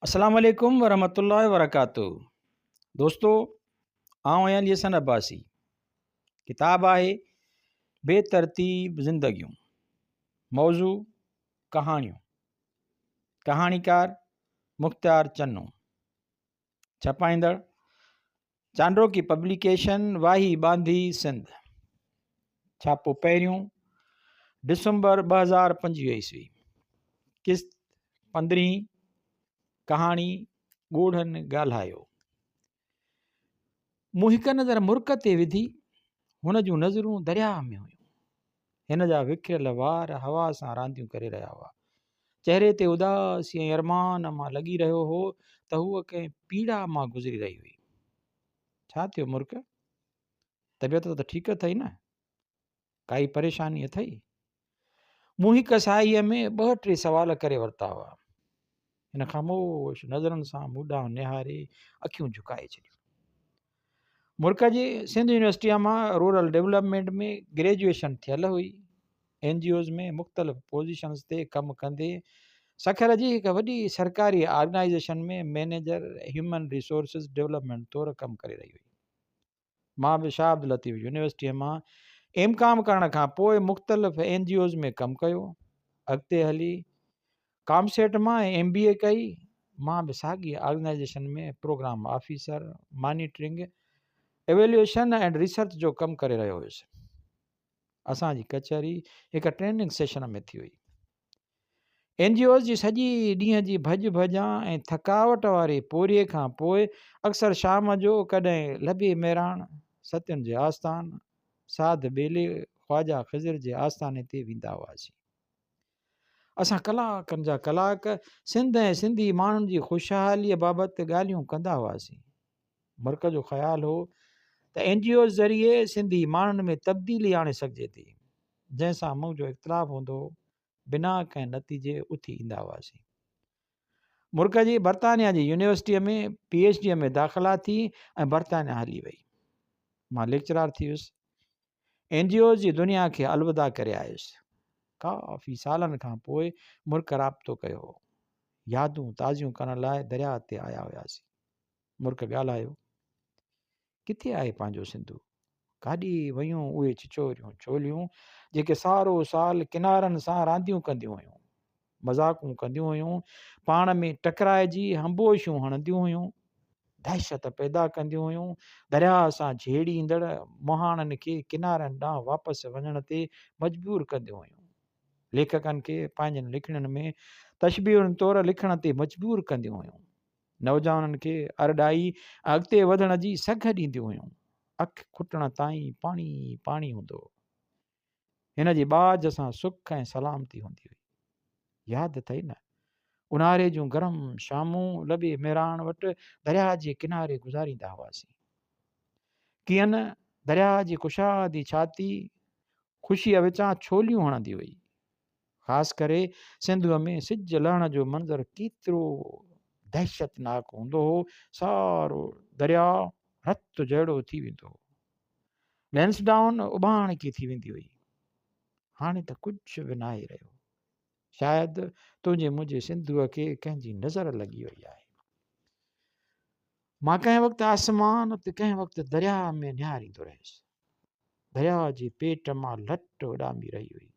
السلام عليڪم ورحمة الله وبرڪاته دوستو آئون آهيان علي حسن عباسي ڪتاب آهي بي ترتيب زندگيون موضوع ڪهاڻيون ڪهاڻيڪار مختيار چنو ڇپائيندڙ چانڊوڪي پبليڪيشن واهي ٻانڌي سنڌ ڇاپو پهريون ڊسمبر ٻه هزار پنجويهه عيسوي قسط پندرهين ڪهاڻي ڳوڙهن ڳالهايو مون هڪ نظر مرڪ تي وڌي هن جون نظرون درياهه ۾ هيون هن جا وکريل وار هوا سان رانديون ڪري رهيا هئا. چهري تي اداسي ۽ ارمان مان لڳي رهيو هو ته هوء ڪنهن پيڙا مان گذري رهي هئي. ڇا ٿيو مرڪ؟ طبيعت ته ٺيڪ اٿئي نه؟ ڪائي پريشاني اٿئي؟ مون هڪ ساهيء ۾ ٻه ٽي سوال ڪري ورتا هئا. هن خاموش نظرن سان مون ڏانهن نهاري اکيون جهڪائي ڇڏيون. مرڪ جي سنڌ يونيورسٽيء مان رورل ڊيولپمينٽ ۾ گريجوئيشن ٿيل هئي. اين جي اوز ۾ مختلف پوزيشنز تي ڪم ڪندي سکر جي هڪ وڏي سرڪاري organisation ۾ manager human resources development طور ڪم ڪري رهي هئي. مان به شاهه عبداللطيف يونيورسٽيء مان ايم ڪام ڪرڻ کان پوء مختلف اين جي اوز ۾ ڪم ڪيو اڳتي هلي ڪام سيٽ مان ايم بي اي ڪئي مان به ساڳي organisation ۾ programme officer monitoring evaluation ۽ research جو ڪم ڪري رهيو هيس اسان جي ڪچهري هڪ ٽريننگ سيشن ۾ ٿي هئي اين جي اوز جي سڄي ڏينهن جي ڀڄ ڀڄان ۽ ٿڪاوٽ واري پورهيي کان پوء اڪثر شام جو ڪڏهن لبي ميراڻ، ستين جي آستان، ساڌ ٻيلي، خواجا خضر جي آستاني تي ويندا هئاسين. اسان ڪلاڪن جا ڪلاڪ سنڌ ۽ سنڌي ماڻهن جي خوشحاليء بابت ڳالهيون ڪندا هئاسين. مرڪز جو خيال هو ته اين جي اوز ذريعي سنڌي ماڻهن ۾ تبديلي آڻي سگهجي ٿي جنهن سان منهن جو اختلاف هوندو هو بنا ڪنهن نتيجي اٿي ايندا هئاسين مرڪز جي برطانيا جي يونيورسٽيء ۾ پي ايچ ڊيء ۾ داخلا ٿي ۽ برطانيا هلي وئي مان ليڪچرار ٿي ويس اين جي اوز جي دنيا کي الوداع ڪري آيس ڪافي سالن کان پوء مرڪ رابطو ڪيو هو يادون تازيون ڪرڻ لاء درياء تي آيا هياسين مرڪ ڳالهايو، ڪٿي آهي پنهنجو سنڌو؟ ڪاڏي ويون اهي چچوريون ڇوليون، جيڪي سارو سال ڪنارن سان رانديون ڪنديون هيون، مذاقون ڪنديون هيون، پاڻ ۾ ٽڪرائجي همبوشيون هڻنديون هيون، دهشت پيدا ڪنديون هيون، درياء سان جهيڙيندڙ مهاڻن کي ڪنارن ڏانهن واپس وڃڻ تي مجبور ڪنديون هيون. ليکڪن کي پنهنجن لکڻين ۾ تشبيهن طور لکڻ تي مجبور ڪنديون هيون. نوجوانن کي ارڏائي اڳتي وڌڻ جي سگهه ڏينديون هيون. اک کٽڻ تائين پاڻي ئي پاڻي هوندو هو. هن جي ٻاجهه سان سک ۽ سلامتي هوندي هئي. ياد اٿئي نه؟ اونهاري جون گرم شامون لڏي ميراڻ وٽ درياهه جي ڪناري گذاريندا هئاسين. ڪيئن نه درياهه جي ڪشادي ڇاتي خوشيء وچان ڇوليون هڻندي هئي. خاص ڪري سنڌوء ۾ سج لهڻ جو منظر ڪيترو دهشتناڪ هوندو هو، سارو درياء رت جهڙو ٿي ويندو هو. لينسڊائون اڀاڻ ڪي ٿي ويندي هئي. هاڻي ته ڪجهه به ناهي رهيو. شايد تنهنجي منهنجي سنڌوء کي ڪنهن جي نظر لڳي وئي آهي. مان ڪنهن وقت آسمان ته ڪنهن وقت درياهه ۾ نهاريندو رهيس. درياهه جي پيٽ مان لٽ اڏامي رهي هئي.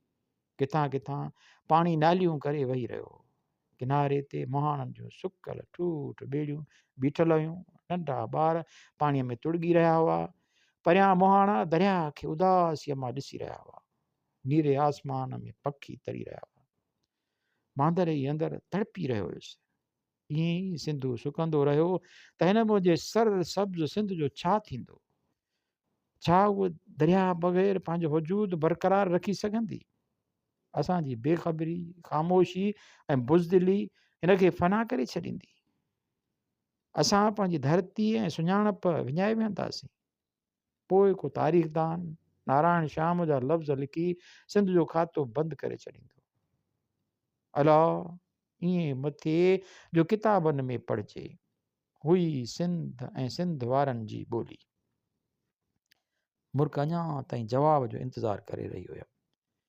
ڪٿان ڪٿان پاڻي ناليون ڪري وهي رهيو هو. ڪناري تي مهاڻن جون سڪل ٺوٺ ٻيڙيون بيٺل هيون. ننڍا ٻار پاڻي ۾ تڙڳي رهيا هئا. پريان مهاڻا درياهه کي اداسيء مان ڏسي رهيا هئا. نيري آسمان ۾ پکي تري رهيا هئا. ماندري اندر تڙپي رهيو هيس. ائين ئي سنڌو سڪندو رهيو ته هن منهنجي سر سبز سنڌ جو ڇا ٿيندو؟ ڇا هوء درياهه بغير پنهنجو وجود برقرار رکي سگهندي؟ اسان جي بي خبري، خاموشي ۽ بزدلي هن کي فنا ڪري ڇڏيندي. اسان پنهنجي ڌرتي ۽ سڃاڻپ وڃائي ويهنداسين. پوء ڪو تاريخدان نارائڻ شام جا لفظ لکي سنڌ جو کاتو بند ڪري ڇڏيندو الا ائين مت ٿئي جو ڪتابن ۾ پڙهجي هئي سنڌ ۽ سنڌ وارن جي ٻولي مرڪ اڃا تائين جواب جو انتظار ڪري رهي هيم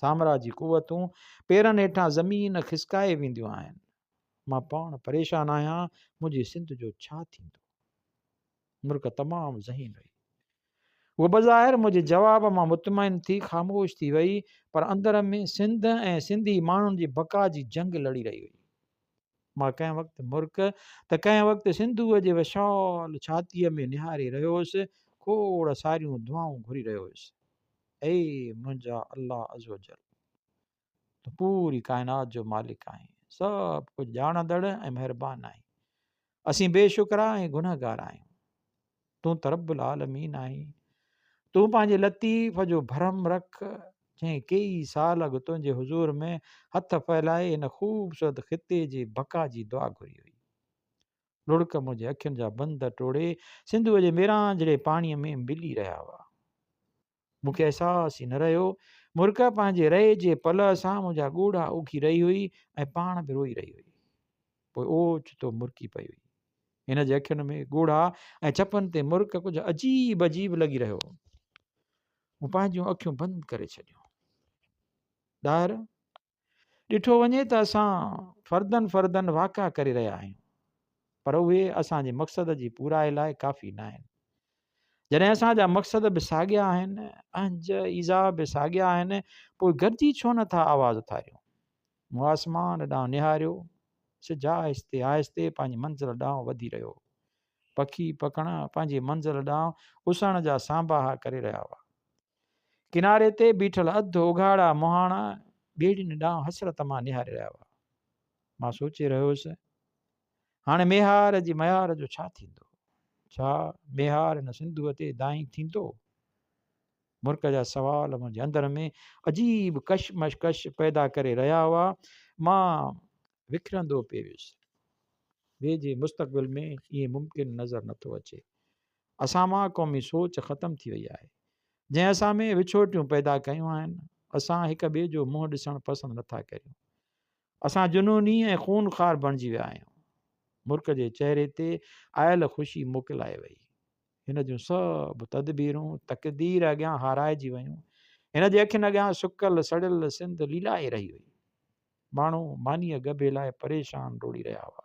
سامراج جي قوتون پيرن هيٺان زمين کسڪائي وينديون آهن. مان پاڻ پريشان آهيان منهنجي سنڌ جو ڇا ٿيندو. مرڪ تمام ذهين هئي. هو بظاهر منهنجي جواب مان مطمئن ٿي خاموش ٿي وئي پر اندر ۾ سنڌ ۽ سنڌي ماڻهن جي بقا جي جنگ لڙي رهي هئي. مان ڪنهن وقت مرڪ ته ڪنهن وقت سنڌوء جي وشال ڇاتيء ۾ نهاري رهيو هوس کوڙ ساريون دعائون گهري رهيو هوس. اي منهنجا الله عزّوجلّ! تون پوري ڪائنات جو مالڪ آهين، سڀ ڪجهه ڄاڻندڙ ۽ مهربان آهين. اسين بي شڪرا ۽ گنهگار آهيون. تون ته رب العالمين آهين. تون پنهنجي لطيف جو ڀرم رک، جنهن ڪيئي سال اڳ تنهنجي حضور ۾ هٿ ڦهلائي هن خوبصورت خطي جي بقا جي دعا گهري هئي. لڙڪ منهنجي اکين جا بند ٽوڙي سنڌوء جي ميران جهڙي پاڻيء ۾ ملي رهيا هئا. مون کي احساس ئي نه رهيو. مرڪ پنهنجي رئي جي پلئه سان منهنجا ڳوڙها اوکي رهي هئي ۽ پاڻ به روئي رهي هئي. پوء اوچتو مرڪي پئي هئي. هن جي اکين ۾ ڳوڙها ۽ چپن تي مرڪ ڪجهه عجيب عجيب لڳي رهيو هو. مون پنهنجون اکيون بند ڪري ڇڏيون. ڏاهر ڏٺو وڃي ته اسان فردن فردن واقعا ڪري رهيا آهيون پر اهي اسان جي مقصد جي پورائي لاء ڪافي نه آهن جڏهن اسان جا مقصد به ساڳيا آهن اهنج ايزا به ساڳيا آهن پوء گڏجي ڇو نٿا آواز اٿاريون مون آسمان ڏانهن نهاريو سج آهستي آهستي پنهنجي منزل ڏانهن وڌي رهيو پکي پکڻا پنهنجي منزل ڏانهن اسهڻ جا سانباها ڪري رهيا هئا ڪناري تي بيٺل اڌ اگهاڙا مهاڻا ٻيڙين ڏانهن حسرت مان نهاري رهيا هئا مان سوچي رهيو هوس هاڻي ميهار جي ميار جو ڇا ٿيندو ڇا ميهار هن سنڌوء تي دانهين ٿيندو مرڪ جا سوال منهنجي اندر ۾ عجيب ڪشمش ڪش پيدا ڪري رهيا هئا مان وکرندو پئي ويس ويجهي مستقبل ۾ ائين ممڪن نظر نٿو اچي اسان مان قومي سوچ ختم ٿي وئي آهي جنهن اسان ۾ وڇوٽيون پيدا ڪيون آهن اسان هڪ ٻئي جو منهن ڏسڻ پسند نٿا ڪريون اسان جنوني ۽ خون خار بڻجي ويا آهيون ملڪ جي چهري تي آيل خوشي موڪلائي وئي هن جون سڀ تدبيرون تقدير اڳيان هارائجي ويون هن جي اکين اڳيان سڪل سڙيل سنڌ ليلائي رهي هئي ماڻهو مانيء ڳڀي لاء پريشان ڊوڙي رهيا هئا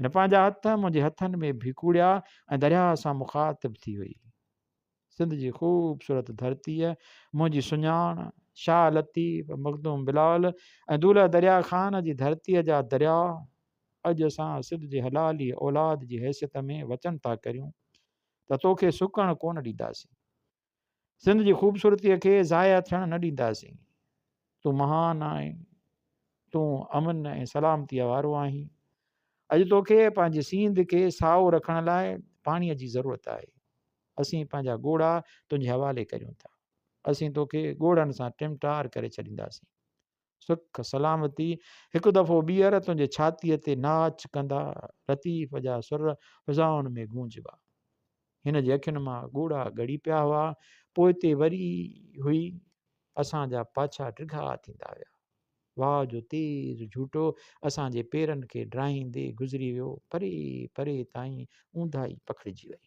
هن پنهنجا هٿ منهنجي هٿن ۾ ڀيڪوڙيا ۽ درياهه سان مخاطب ٿي وئي. سنڌ جي خوبصورت ڌرتيء منهنجي سڃاڻ، شاهه لطيف، مخدوم بلال ۽ دولهه درياهه خان جي ڌرتيء جا درياء اڄ اسان سنڌ جي حلالي اولاد جي حيثيت ۾ وچن ٿا ڪريون ته توکي سڪڻ ڪونه ڏينداسين. سنڌ جي خوبصورتيء کي ضايع ٿيڻ نه ڏينداسين. تون مهان آهين. تون امن ۽ سلامتيء وارو آهين. اڄ توکي پنهنجي سينڌ کي سائو رکڻ لاء پاڻيء جي ضرورت آهي. اسين پنهنجا ڳوڙها تنهنجي حوالي ڪريون ٿا. اسين توکي ڳوڙهن سان ٽمٽار ڪري ڇڏينداسين. سک سلامتي هڪ دفعو ٻيهر تنهنجي ڇاتيء تي ناچ ڪندا لطيف جا سر فضائن ۾ گونجبا هن جي اکين مان ڳوڙها ڳڙي پيا هئا پوئتي وري هئي اسان جا پاڇا ڊگها ٿيندا ويا واهه جو تيز جھوٽو اسان جي پيرن کي ڊاهيندي گذري ويو پري پري تائين اونداهي پکڙجي وئي